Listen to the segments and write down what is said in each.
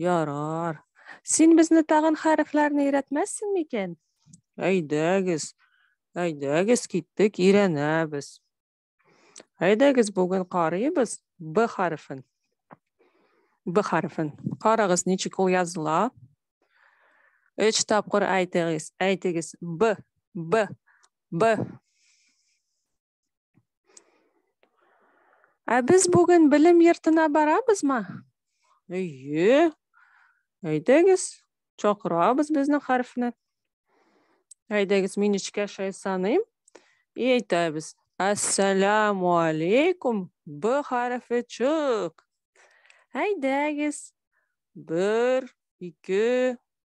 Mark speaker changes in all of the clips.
Speaker 1: Ярар. Син безне тагын хәрефләрне өйрәтмәссең микән? Әйдәгез. Әйдәгез киттек, өйрәнәбез. Әйдәгез бүген карыйбыз Б хәрефен. Б хәрефен. Карагыз, ничек ул языла. Өч тапкыр әйтегез. Әйтегез. Б. Б. Б. Ә без бүген белем йортына барабызмы? Әйе. Әйдәгез, чакырабыз безнең хәрефне. Әйдәгез, мин эчкә шәй саныйм. И әйтәбез. Ассаламу алейкум. Б хәрефе чык. Әйдәгез. Бер, ике,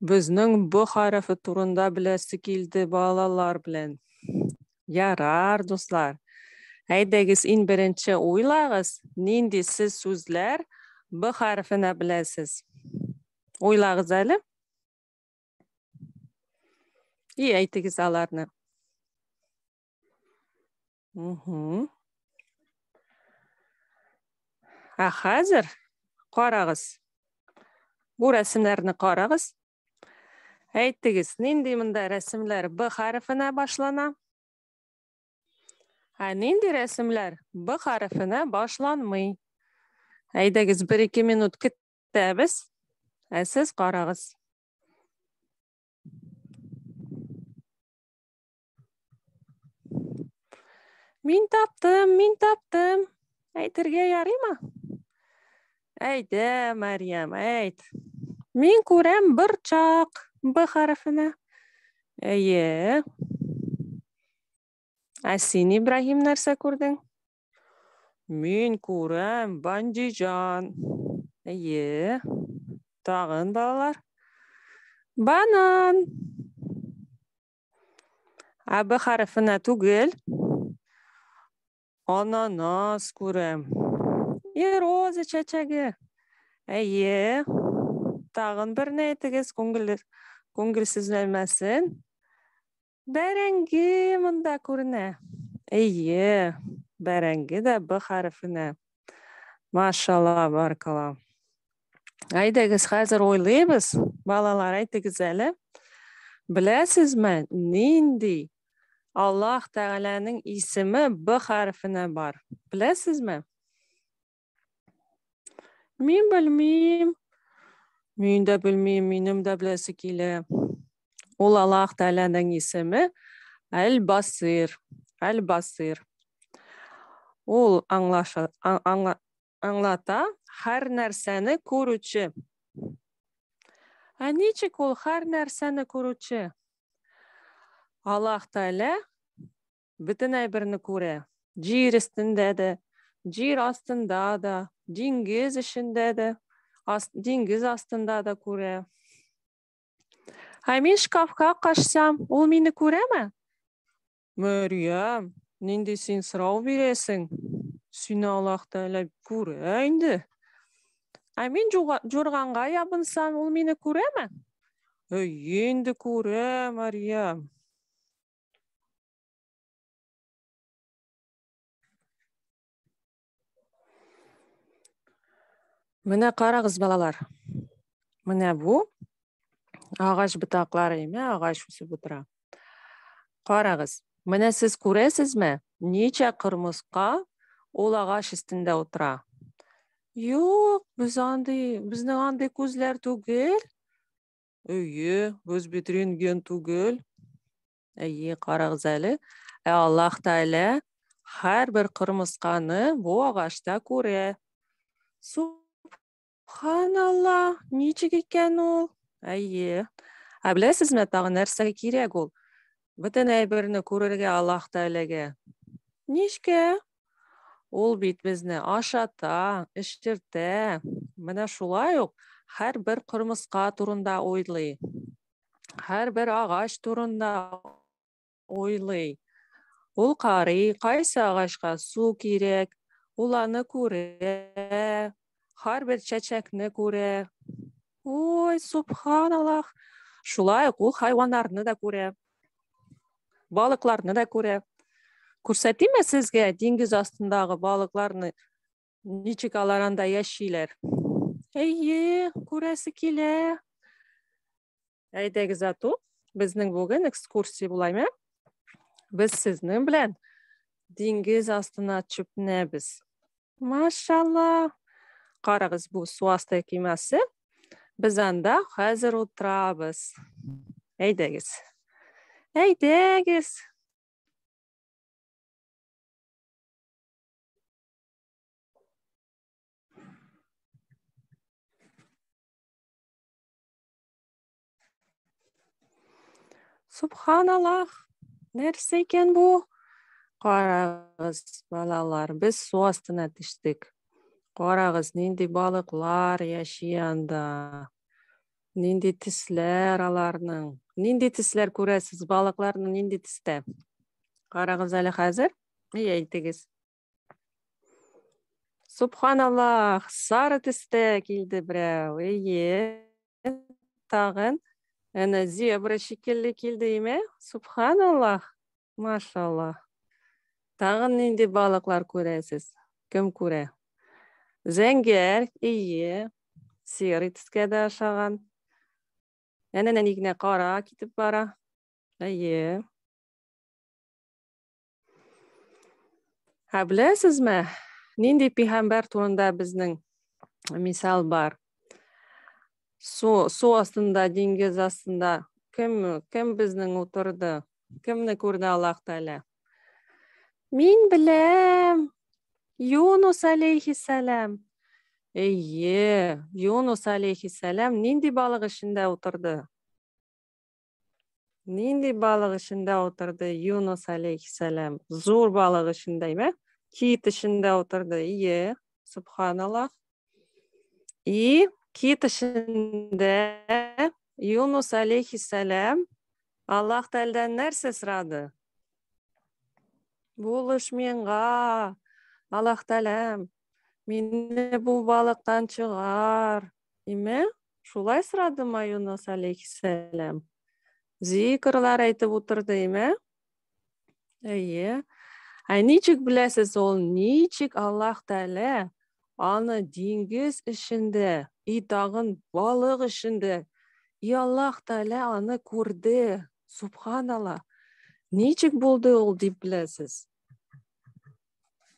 Speaker 1: Безнең бу хәрефе турында беләсе килде балалар белән. Ярар, дуслар. Әйдәгез, ин беренче уйлагыз, нинди сез сүзләр б хәрефенә беләсез. Уйлагыз әле. И әйтегез аларны. Угу. Ә хәзер карагыз. Бу рәсемнәрне карагыз. Әйтегез, нинди монда рәсемләр Б хәрефенә башлана? Ә нинди рәсемләр Б хәрефенә башланмый? Әйдәгез, бер ике минут көтәбез. Ә сез карагыз. Мин таптым, мин таптым. Әйтергә ярыймы? Әйтә, Мариям, әйт. Мин күрәм бер чак Б хәрефенә. Әйе. Ә син, Ибраһим, нәрсә күрдең? Мин күрәм бандиҗан. Әйе. Тагын балалар. Банан. Ә б хәрефенә түгел. Ананас күрәм. И роза чәчәге. Әйе. Тагын бер ни әйтегез, күңел күңелсезләнмәсен. Бәрәңге монда күренә. Әйе. Бәрәңге дә б хәрефенә. Машалла, баркала. Әйдәгез, хәзер уйлыйбыз. Балалар, әйтегез әле. Беләсезме, нинди Аллаһ Тәгаләнең исеме Б хәрефенә бар? Беләсезме? Мин белмим. Мин дә белмим, минем дә беләсе килә. Ул Аллаһ Тәгаләнең исеме Әл-Басир. Әл-Басир. Ул аңлаша, аңла, аңлата һәр нәрсәне күрүче. Ә ничек ул һәр нәрсәне күрүче? Аллаһ Тәгалә бөтен әйберне күрә. Җир өстендә дә, җир астында да, диңгез эчендә дә, ас, диңгез астында да күрә. Ә мин шкафка качсам, ул мине күрәме? Мәрьям, нинди син сорау бирәсең? Сине Аллаһ Тәгалә күрә инде. Ә мин җурганга ябынсам, ул мине күрәме? Әйе, инде күрә, Мәрьям. Менә карагыз, балалар. Менә бу агач бутаклары име, агач үсеп утыра. Карагыз. Менә сез күрәсезме, ничә кырмыска ул агач өстендә утыра? Юк, без андый, безнең андый күзләр түгел. Өйе, без бит рентген түгел. Әйе, карагыз әле. Ә Аллаһ Тәгалә һәрбер кырмысканы бу агачта күрә. Субханалла, ничек икән ул? Әйе. Ә беләсезме, тагы нәрсәгә кирәк ул? Бөтен әйберне күрергә Аллаһ Тәгаләгә. Ничкә? Ул бит безне ашата, эчертә. Менә шулай ук һәрбер кырмыска турында уйлый. һәрбер агач турында уйлый. Ул карый, кайсы агачка су кирәк, ул аны күрә, һәрбер чәчәкне күрә. Ой, субханаллах. Шулай ук ул хайваннарны да күрә. Балыкларны да күрә. Күрсәтимме сезгә диңгез астындагы балыкларны? Ничек алар анда яшиләр? Әйе, күрәсе килә. Әйдәгез ату, безнең бүген экскурсия булаймы? Без сезнең белән диңгез астына чүпнәбез. Машалла. Карагыз, бу су асты кемасы. Без анда хәзер утырабыз. Әйдәгез. Әйдәгез. Субханаллах, нәрсә икән бу? Карагыз, балалар, без су астына төштек. Карагыз, нинди балыклар яши анда. Нинди тисләр аларның. Нинди тисләр күрәсез, балыкларның нинди тистә? Карагыз әле хәзер. И әйтегез. Субханаллах, сары төстә килде берәү. Эйе. Тагын әнә зебра шикелле килде име? Субханаллах. Машаллах. Тагын нинди балыклар күрәсез? Кем күрә? Зәңгәр, ие, серый төскә дә ашаган. Әнә нәни генә кара китеп бара. Ие. Ә беләсезме, нинди пигамбәр турында безнең мисал бар? Су, су астында, диңгез астында кем, кем безнең утырды? Кемне күрде Аллаһ Тәгалә? Мин беләм. Юнус алейхиссалам. Эйе, Юнус алейхиссалам нинди балык эчендә утырды? Нинди балык эчендә утырды Юнус алейхиссәләм? Зур балык эчендә, ме? Кит эчендә утырды. Ие, субханаллах. И кит эчендә Юнус алейхиссәләм Аллаһ Тәгаләдән нәрсә сорады? Булыш миңа, Аллаһ Тәгаләм, мине бу балыктан чыгар, Име? Шулай сорады ма Юнус алейхиссәләм? Зикрлар әйтеп утырды, име? Әйе. Ә ничек беләсез, ул ничек Аллаһ Тәгалә аны диңгез эчендә, и тагын балык эчендә, и Аллаһ Тәгалә аны күрде. Субханалла. Ничек булды ул дип беләсез?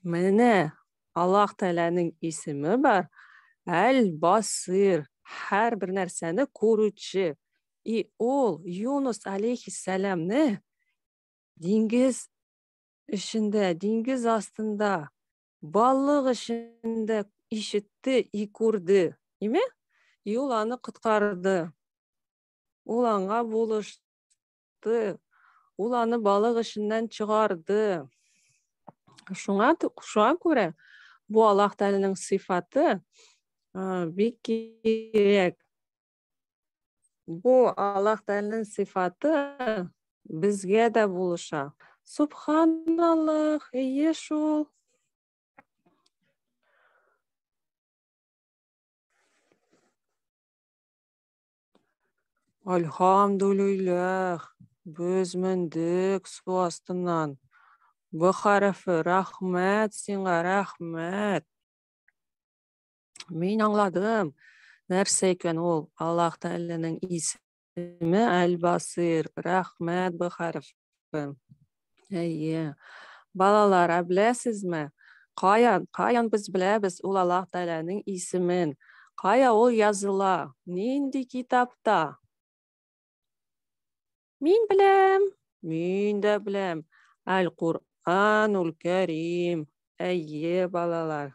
Speaker 1: Менә Аллаһ Тәгаләнең исеме бар. Әл-Басир, һәрбер нәрсәне күрүче. И ул Юнус алейхиссәламны диңгез эчендә, диңгез астында, балык эчендә ишетте и күрде. Име? И ул аны коткарды. Ул аңа булышты. чыкты. Ул аны балык эченнән чыгарды. Шуңа шуңа күрә бу Аллаһ Тәгаләнең сыйфаты бик кирәк. Бу Аллаһ Тәгаләнең сыйфаты безгә дә булыша. Субханаллах, ие шул. Альхамдулиләх, без мендек су астыннан. Б хәрефе, рәхмәт сиңа, рәхмәт. Мин аңладым, нәрсә икән ул Аллаһ Тәгаләнең исеме Әл-Басир. Рәхмәт, Б хәрефе. Әйе. Балалар, ә беләсезме? Каян, каян без беләбез ул Аллаһ Тәгаләнең исемен? Кая ул языла? Нинди китапта? Мин беләм. Мин дә беләм. Әл-Куранул Кәрим. Әйе, балалар.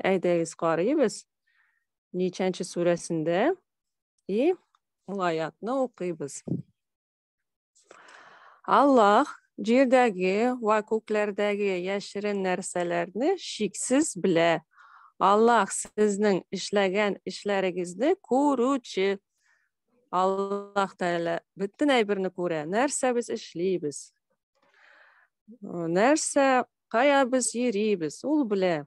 Speaker 1: Әйдәгез карыйбыз. Ничәнче сүрәсендә? И, ул аятны укыйбыз. Аллаһ җирдәге вә күкләрдәге яшерен нәрсәләрне шиксез белә. Аллаһ сезнең эшләгән эшләрегезне күрүче. Аллаһ Тәгалә бөтен әйберне күрә. Нәрсә без эшлибез? Нәрсә, кая без йөрибез? Ул белә.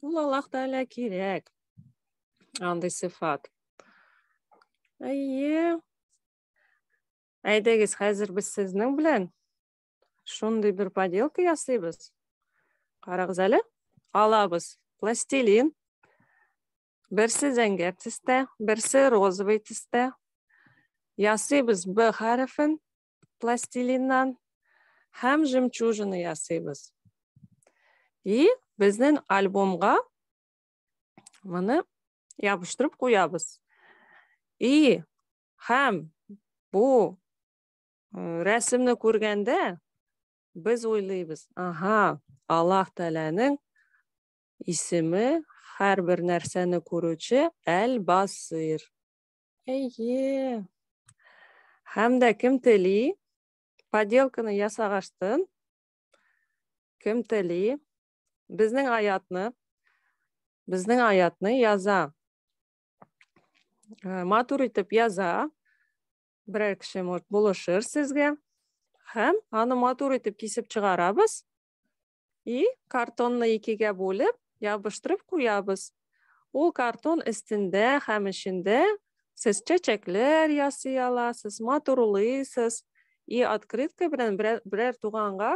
Speaker 1: Ул Аллаһ Тәгалә кирәк. Андый сыйфат. Әйе, Әйдәгез, хәзер без сезнең белән шундый бер поделка ясыйбыз. Карагыз әле. Алабыз пластилин. Берсе зәңгәр төстә, берсе розовый төстә. Ясыйбыз Б хәрефен пластилиннан һәм жемчужина ясыйбыз. И безнең альбомга моны ябыштырып куябыз. И Һәм бу рәсемне күргәндә без уйлыйбыз, ага, Аллаһ Тәгаләнең исеме һәрбер нәрсәне күрүче Әл-Басир. Әйе. Һәм дә кем тели? Поделканы ясагач тын. Кем тели? Безнең аятны, безнең аятны яза. Э, матур итеп яза берәр кеше может булышыр сезгә һәм аны матур итеп кисеп чыгарабыз и картонны икегә бүлеп ябыштырып куябыз ул картон өстендә һәм эчендә сез чәчәкләр ясый аласыз матурлыйсыз и открытка белән берәр туганга